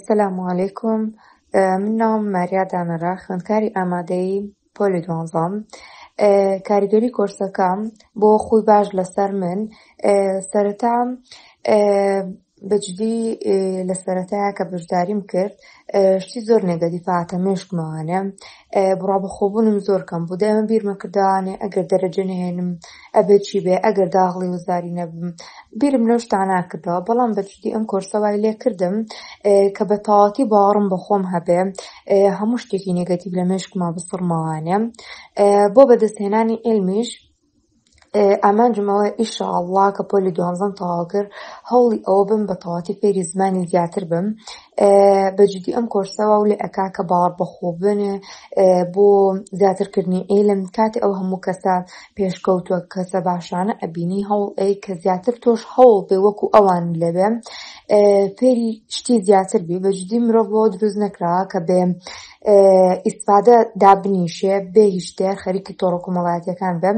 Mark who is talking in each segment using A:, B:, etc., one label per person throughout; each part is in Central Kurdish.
A: سلام علیکم من ناوم ماریا دانەرا خوێندکاری ئامادەی پۆلی دوانزام کاریگەری کۆرسەکەم بۆ خۆی باش لەسەر من سەرەتا بەجدی لە سەرەتایا کە بەشداریم کرد شتی زۆر نێگەدیفاتە مێشکمەوانێ بڕا بەخۆبوونم زۆر کەم بوو دەمە بیرمە کردوانێ ئەگەر دەرەجە نهێنم ئەبێ چی بێ ئەگەر داغڵی و زاری نەبم بیرم لەو شتانە کردەوە بەڵام بە جدی ئەم کۆرسە وای لێ کردم کە بە تەواوەتی باوەڕم بە خۆم هەبێ هەموو شتێکی نێگەتیڤ لە مێشکما بسڕمەوانێ بۆ بەدەستهێنانی علمیش ئامانجم ئەوە ئیشاءاللە کە پۆلی دوانزەم تەواو کرد هەوڵی ئەوە بم بە تەواتی فێری زمانی زیاتر بم بە جدی ئەم کۆرسەوە و لە ئەکا کە باوەڕ بەخۆ بنێ بۆ زیاترکردنی عیلم کاتی ئەو هەموو کەسە پێشکەوتوە کەسە باشانە ئەبینی هەوڵ ئەی کە زیاتر تۆش هەوڵ بێ وەکو ئەوان لەبێ فێری شتی زیاتر بێ بەجددی مرۆڤ بۆ دروست نەکرا کە بێ ئیسفادە دابنیشێ بێ هیشتێ خەریکی تۆڕک و مەڵاتەکان بم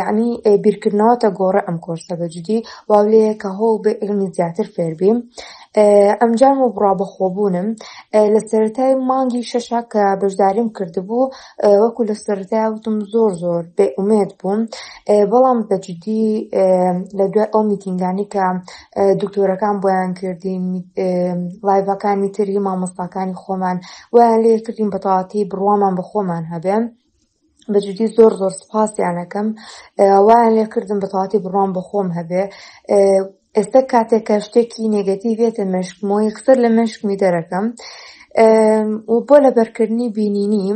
A: یعنی بیرکردنەوەتە گۆڕە ئەم کۆرسە بەجددی واو لێ کە هەوڵ بێ علمی زیاتر فێربیم ئەمجار و بڕا بەخۆبوونم لە سەرای مانگی شەشا کە بەشداریم کردبوو وەکو لە سەردا وتم زۆر زۆر بێ ئومێد بووم بەڵام بەجددی لە دوای ئەو میتینگانی کە دکتۆرەکان بۆیان کردین لایڤەکانی تری مامۆستاکانی خۆمان ویان لێ کردین بەتەواتی بڕوامان بە خۆمان هەبێن بەجددی زۆر زۆر سپاسیانەکەم وایان لێ کردم بەتەواتی بڕوام بە خۆم هەبێ ئێستا کاتێک کە شتێکی نێگەتیڤێتە مشکم و یەکسەر لە مشکمی دەرەکەم و بۆ لەبەرکردنی بینینی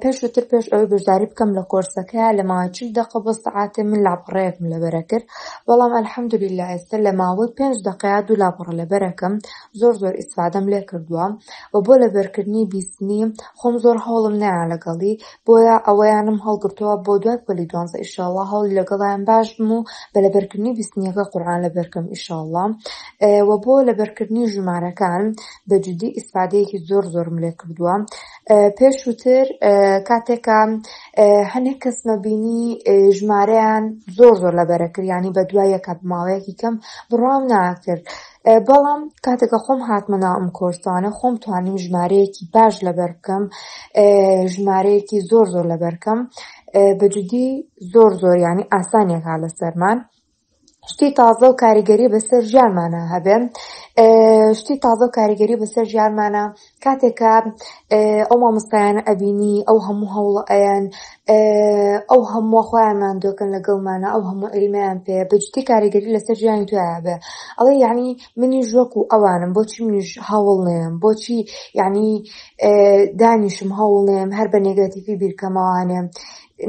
A: پێش وتر پێش ئەوەی بەشداری بکەم لە کۆرسەکە لە ماوەی چل دقە بۆ سعاتێ من لاپەڕەیەکم لەبەرە کرد بەڵام ئەلحەمدولی لە ئێستا لە ماوەی پێنج دقەیە دوو لاپەڕە لەبەرەکەم زۆر زۆر ئیسفادەم لێ کردووە و بۆ لەبەرکردنی بیستنی خۆم زۆر هەوڵم نایە لەگەڵی بۆیە ئەوەیانم هەڵگرتەوە بۆ دوای پۆلی دوانزە ئیشاڵڵا هەوڵی لەگەڵیان باش بم و بە لەبەرکردنی بیستنیەکە قورئان لەبەرکەم ئیشاڵڵا و بۆ لەبەرکردنی ژمارەکان بە جدی ئیسفادەیەکی زۆر زۆرم لێ کردووە پێشووتر کاتێکە هەنێک کەسمە بینی ژمارەیان زۆر زۆر لەبەرەکریانی بە دوایەکە بماوەیەکی کەم بڕام ناکرد بەڵام کاتێکە خۆم هاتمە ناو ئەم کۆرسانە خۆم توانیم ژمارەیەکی باش لەبەر بکەم ژمارەیەکی زۆر زۆر لەبەرکەم بەجددی زۆر زۆر ینی ئاسانیەکە لە سەرمان شتی تازە و کاریگەری بەسەر ژیانمانە هەبێن شتی تازە و کاریگەری بەسەر ژیانمانە کاتێک کە ئەو مامۆستایانە ئەبینی ئەو هەموو هەوڵە ئەیان ئەو هەموو خۆیانمان دۆکەن لەگەڵمانە ئەو هەموو عیلمیان پێ بەجددی کاریگەری لەسەر ژیانی تویا بێ ئەڵێ یعنی منی ژۆک و ئەوانم بۆچی منیش هەوڵ نێم بۆچی یعنی دانیشم هەوڵ نێم هەر بە نێگەتیفی بیرکەمەوانێم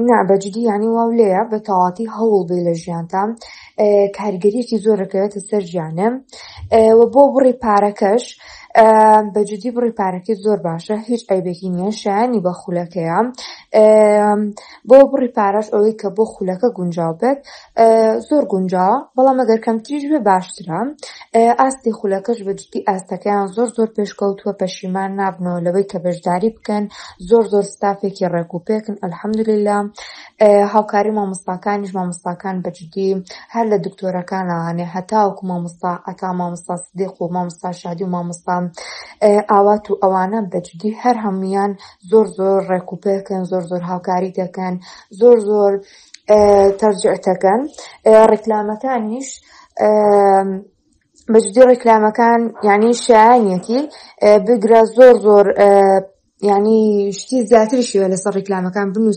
A: نا بەجدی یانی واو لێە بە تەواتی هەوڵ بێ لە ژیانتان کارگەریەکی زۆرەکەوێتە سەر ژیانە و بۆ بڕی پارەکەش بەجددی بڕی پارەکەی زۆر باشە هیچ ئەیبێکی نییە شایانی بە خولەکەیە بۆ بڕی پارەش ئەوەی کە بۆ خولەکە گونجاو بێت زۆر گونجاوە بەڵام ئەگەر کەمتریش بێ باشترە ئاستی خولەکەش بەجددی ئاستەکەیان زۆر زۆر پێشکەوتووە پەشیمان نابنەوە لەوەی کە بەشداری بکەن زۆر زۆر ستافێکی ڕێک و پێکن الحمدللە هاوکاری مامۆستاکانیش مامۆستاکان بەجددی هەر لە دکتۆرەکانانێ هەتاوەکو مامۆستا عتا مامۆستا سدیق و مامۆستا شادی و مامۆستا ئاوات و ئەوانە بەجددی هەر هەمویان زۆر زۆر ڕێک و پێکن زۆر زۆر هاوکاری دەکەن زۆر زۆر تەرجعتەکەن ڕێکلامەکانیش بەجددی ڕێکلامەکان یعنی شایانەتی بگرە زۆر زۆر ینی شتی زیاترشیوە لەسەر ڕیکلامەکان بنووسە